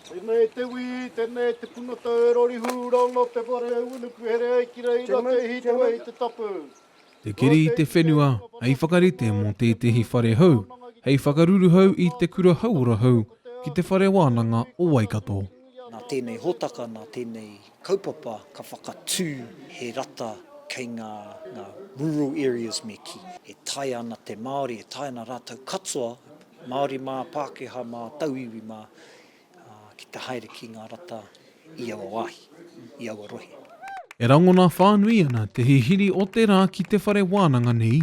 Tenei te wi, tenei te puna tau e rori hu rongo te whare e unuku here ai ki reira te hi te wei te tapu. Te keri i te whenua hei whakarite mō tētehi whare hou hei whakaruruhau i Te Kura Hauora Hou ki Te Whare Wānanga o Waikato. Nā tēnei hōtaka, nā tēnei kaupapa ka whakatū he rata kei ngā rural areas me kī. E taea ana te Māori, e taea ana rātou katoa, Māori mā, Pākehā mā, Tauiwi mā, ki te haere ki ngā rata i aua wāhi, i aua rohe. E rangona whānui ana te hihiri o te rā ki te whare wānanga nei,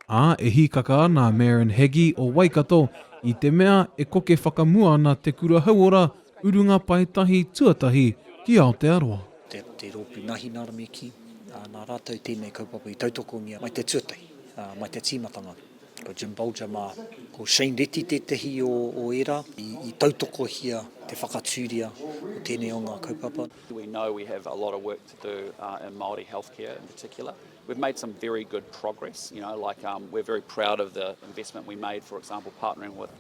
ā, e hīkaka ana a Maren Heggie o Waikato i te mea e koke whakamua ana te kura hauora urunga paetahi tuatahi ki Aotearoa. te rōpū Nahi Naramiki, nā rātou tēnei kaupapa i tautokongia mai te tuatahi, mai te tīmatanga. Ko Jim Bolger mā. Ko Shane Reti tētehi o, o ērā i, i tautokohia te whakatūria o tēnei o ngā kaupapa. We know we have a lot of work to do uh, in Māori healthcare in particular. We've made some very good progress, you know, like um, we're very proud of the investment we made, for example, partnering with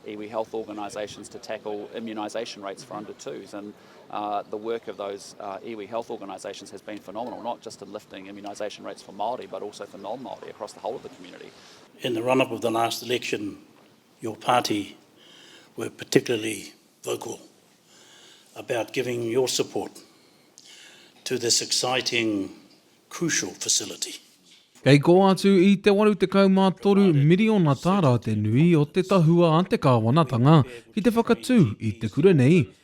iwi health organisations to tackle immunisation rates for under twos and Uh, the work of those uh, iwi health organisations has been phenomenal, not just in lifting immunisation rates for Māori, but also for non-Māori across the whole of the community. In the run-up of the last election, your party were particularly vocal about giving your support to this exciting, crucial facility. Kei kō atu i te 83 miriona tāra te nui o te tahua a te kāwanatanga ki te whakatū i te kura nei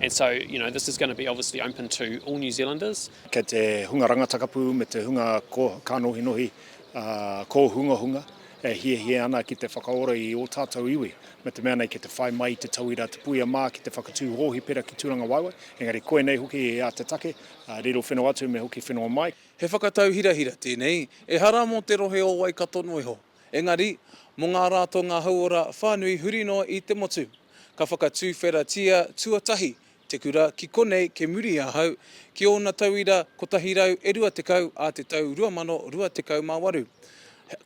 And so, you know, this is going to be obviously open to all New Zealanders. Kei te hunga rangatakapu me te hunga ko, kānohinohi, ā, kōhungahunga e hiahia ana ki te whakaora i ō tātou iwi, me te mea nei ki te whai mai i te tauira te puia mā ki te whakatū hōhipera ki Tūrangawaewae, engari koinei hoki ā te take, ā, riro whenua atu me hoki whenua mai. He whakatau hirahira tēnei, ehara mō te rohe o Waikato noa iho. Engari, mō ngā ratonga hauora whānui huri noa i te motu, ka whakatuwheratia tuatahi te kura ki konei kei muri i ahau, ki ōna tauira 120 ā te tau 2028.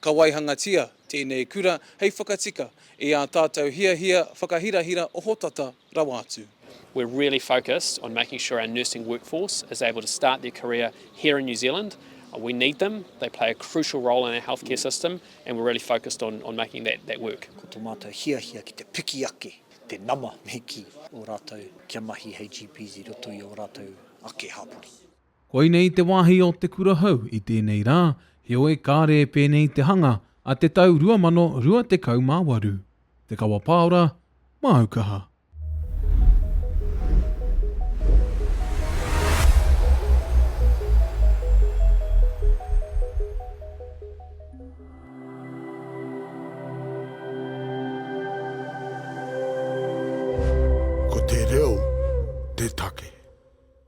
Ka waihangatia tēnei kura hei whakatika i ā tātou hiahia whakahirahira ohotata, rawa atu. We're really focused on making sure our nursing workforce is able to start their career here in New Zealand. We need them, they play a crucial role in our healthcare system and we're really focused on, on making that, that work. Ko tō mātou hiahia ki te piki ake te nama me kī o rātou kia mahi hei GPs i roto i ō rātou ake hapori. Koinei te wāhi o Te Kura Hou i tēnei rā, heoi kāre e pēnei te hanga a te tau 2028. Te Kawa Pāora, māu kaha. Ko te reo te take.